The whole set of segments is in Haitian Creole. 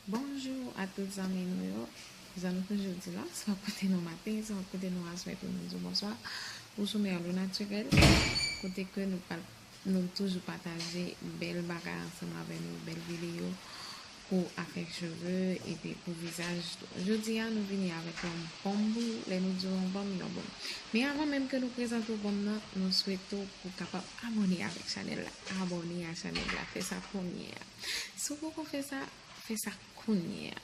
Bonjou a tout zanmi nou yo, zanmi pou jodi la, swa kote nou maten, swa kote nou aswè pou nou di bonswa pou sou Merlou Naturel kote ke nou pral nou toujou pataje bèl bagay ansanm avè nou, bèl videyo pou afè cheve epi pou vizaj tou. Jodi a nou vini avèk yon bonm pou lè nou di yon bonm, yon bonm. Men avan menm ke nou prezante ou bonm nan, nou swete ou pou kapab Abòne avèk chanèl la abòne a chanèl la fè sa kounye a si w poko fè sa fè sa kounye a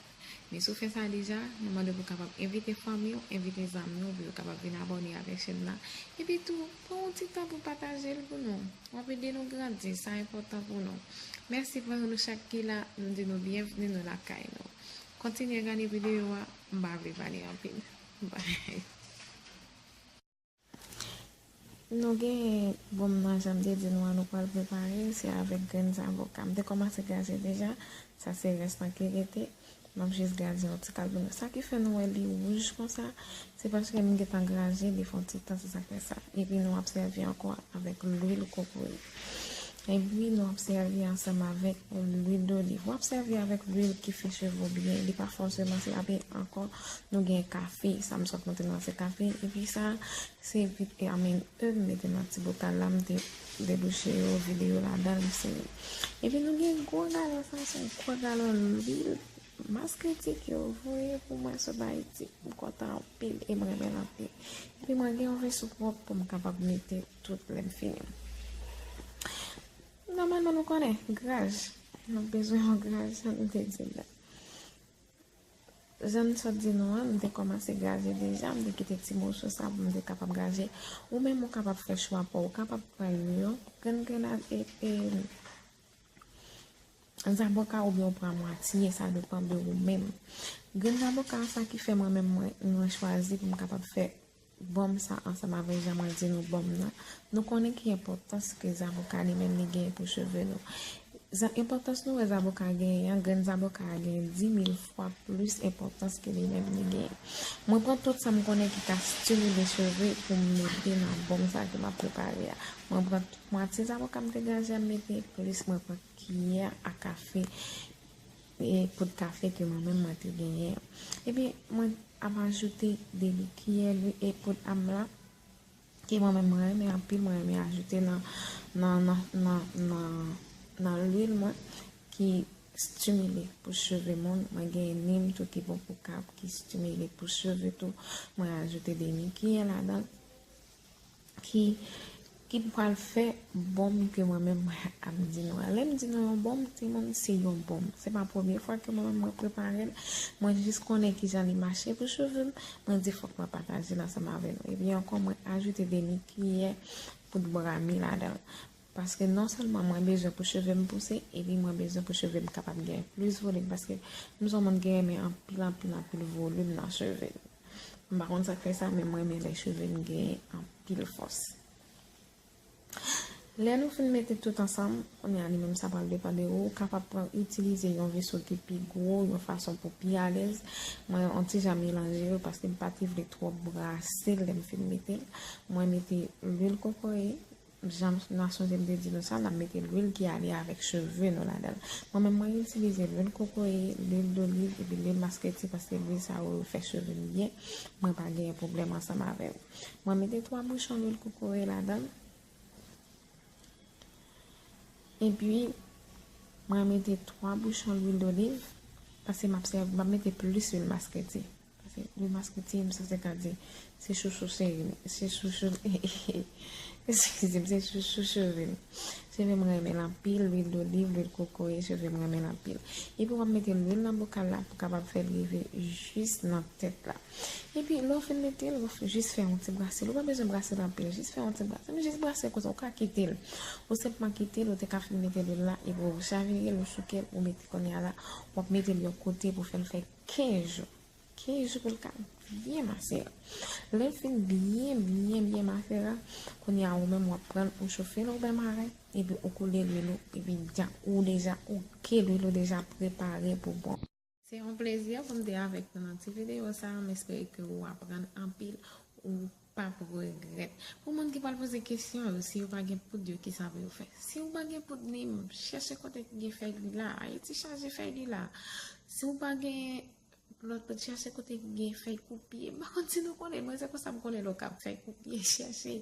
men si w fè sa deja nou mande pou kapab envite fanmi w envite zanmi w pou yo kapab vin abòne avèk chèn nan epi tou pran yon ti tan pou pataje l pou nou w ap ede nou grandi sa enpòtan pou nou mèsi pou nou chak ki la nou di nou byenvni nou lakay nou kontinye gade videyo a m pa vle pale anpil bye. Nou gen bonm nan janm te di nou an nou pral prepare se avèk grenn zavoka m te kòmanse gaze deja sa se rès lan ki rete map jis gaze yon ti kal pou nou sa ki fè nou wè li wouj konsa se paske m gentan graze li fon ti tan se sak fè sa epi nou ap sèvi ankò avèk lwil kokoye Epi nou ap sèvi ansanm avèk lwil doliv. Wap sèvi avèk lwil ki fè cheve w byen, li pa fòseman se api ankò nou gen kafe, sa m sot montre nou an se kafe, epi sa se epi a menm eu m mete nan ti botal la m te debouche yo, vide yo ladan m sere. Epi nou gen gwo galon sa se yon gwo galon lwil, mas kritik yo voye pou mwen sot Ayiti, m kontan anpil e m renmen l anpil. Epi mwen gen yon veso pwòp pou m kapab mete. Tout lè m fini. Nòmalman nou konnen, graj. Nou ap bezwen yon graj jan nou te di l la. Jan m sot di nou an, m te kòmanse graje deja, m te kite ti moso sa pou m te kapab graje. Ou menm ou kapab fè chwa pa w. Ou kapab pran yon grenn grenad e zaboka a oubyen ou pran mwatye, sa depan de ou menm. Grenn zaboka a sa ki fè mwen menm mwen chwazi pou m kapab fè. Bonm sa ansanm avèk jan mwen di nou bonm nan, nou konnen ki enpòtans ke zaboka li menm li genyen pou cheve nou. Zan enpòtans nou wè zaboka genyen an, grenn zaboka a genyen 10000 fwa plis enpòtans ke li menm li genyen. Mwen pran tout sa m konnen ki ka stimile cheve pou m mete nan bonm sa ke m ap prepare a. Mwen pran tout mwatye zaboka m te graje a m mete, plis mwen pran kiyè a kafe. E po de kafe ke mwen menm mwen te genyen an. Ebyen, mwen ap ajoute demi kiyè lwi e po de amla ke mwen menm mwen renmen anpil, mwen renmen ajoute nan, nan, nan, nan, nan, nan lwil mwen ki stimile pou cheve moun. Mwen genyen nim tou ki bon pou kab, ki stimile pou cheve tou. Mwen ajoute demi kiyè ladan. ki ki pral fè bonm ke mwen menm mwen ap di nou an. Lèm di nou yon bonm timoun se yon bonm. Se pa premye fwa ke mwen menm mwen preparel. Mwen jis konnen kijan li mache pou chevem. Mwen di fòk mwen patajel ansanm avè nou. Epi ankò mwen ajoute demi kiyè poud bra mi ladanl. Paske non sèlman mwen bezwen pou cheve m pouse epi mwen bezwen pou cheve m kapab gen plis volim paske m son moun ki renmen anpil anpil anpil volim nan cheve m. M pa konn sa k fè sa men m renmen lè cheve m gen anpil fòs. Lè nou fin mete tout ansanm, kounye a li menm sa pral depan de ou, ou kapab pran itilize yon veso ki pi gwo yon fason pou pi alèz. Mwen yon ti jan melanje yo paske m pati vle twòp brase l lè m fin mete l. Mwen mete lwil kokoye, Jan Nasyon Zini te di nou sa, n ap mete lwil ki ale avèk cheve nou ladan l. Mwen menm, mwen itilize lwil kokoye, lwil doliv epi lwil masketi paske lwil sa yo fè cheve m byen, mwen pa genyen pwoblèm ansanm avè yo. Mwen mete 3 bouchon lwil kokoye ladan l, epi mwen mete 3 bouchon lwil doliv paske m ap mete plis lwil masketi. Pase li maske ti m sa se ka di se chouchou cheri m se chouchou eskize m se chouchou cheve m cheve m renmen l anpil lwil doliv lwil kokoye cheve m renmen l anpil epi w ap mete lwil nan bokal la pou kapab fè l rive jis nan tèt la epi lè w fin mete l ou jis fè yon ti brase l ou pa bezwen brase l anpil jis fè yon ti brase m jis brase l konsa ou ka kite l ou senpman kite l ou te ka fin mete lwil la epi w chavire l ou souke l ou mete kounye a la w ap mete l yon kote pou fè l fè 15 jou 15 jou pou l ka byen mase a lè l fin byen byen byen mase a kounye a ou menm w ap pran l ou chofe l obè mare epi ou koule lwil ou epi dja ou deja ok lwil ou deja prepare pou bon. Se yon plezi pou m te avèk nou nan ti videyo sa m espere ke ou aprann anpil ou. Pap regrèt. Pou moun ki pral poze kesyon yo, si yo pa gen poud yo kisa pou yo fè? Si ou pa gen poud nim, chèche kote ki gen fèy lila. Ayiti chaje fèy lila. Si ou pa gen lòt poud, chèche kote ki gen fèy koupye. M pa konn si nou konnen, mwen se konsa m konnen lè w kab fèy koupye, chèche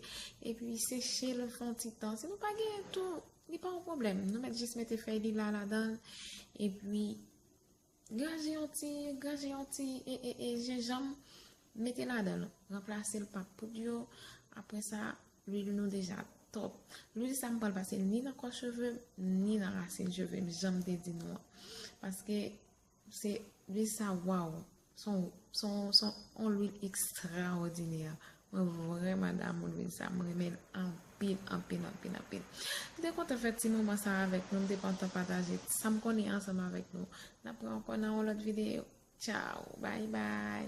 epi seche l fè yon ti tan. Si nou pa genyen tou, li pa yon pwoblèm. Nou mèt jis mete fèy lila ladan l epi. Graje yon ti, graje yon ti e e e jenjanm mete ladan l, ranplase l pa poud yo, aprè sa lwil nou deja top. Lwil sa m pral pase l ni nan kò cheve m, ni nan rasin cheve m janm te di nou an. Paske se lwil sa waw, son son son on lwil ekstraòdinè Mwen vreman damou Louise sa m renmen l anpil anpil anpil anpil m te kontan fè ti moman sa avèk nou m te pantan pataje sam konnen ansanm avèk nou n ap pran ankò nan yon lòt videyo tchaww bay bay.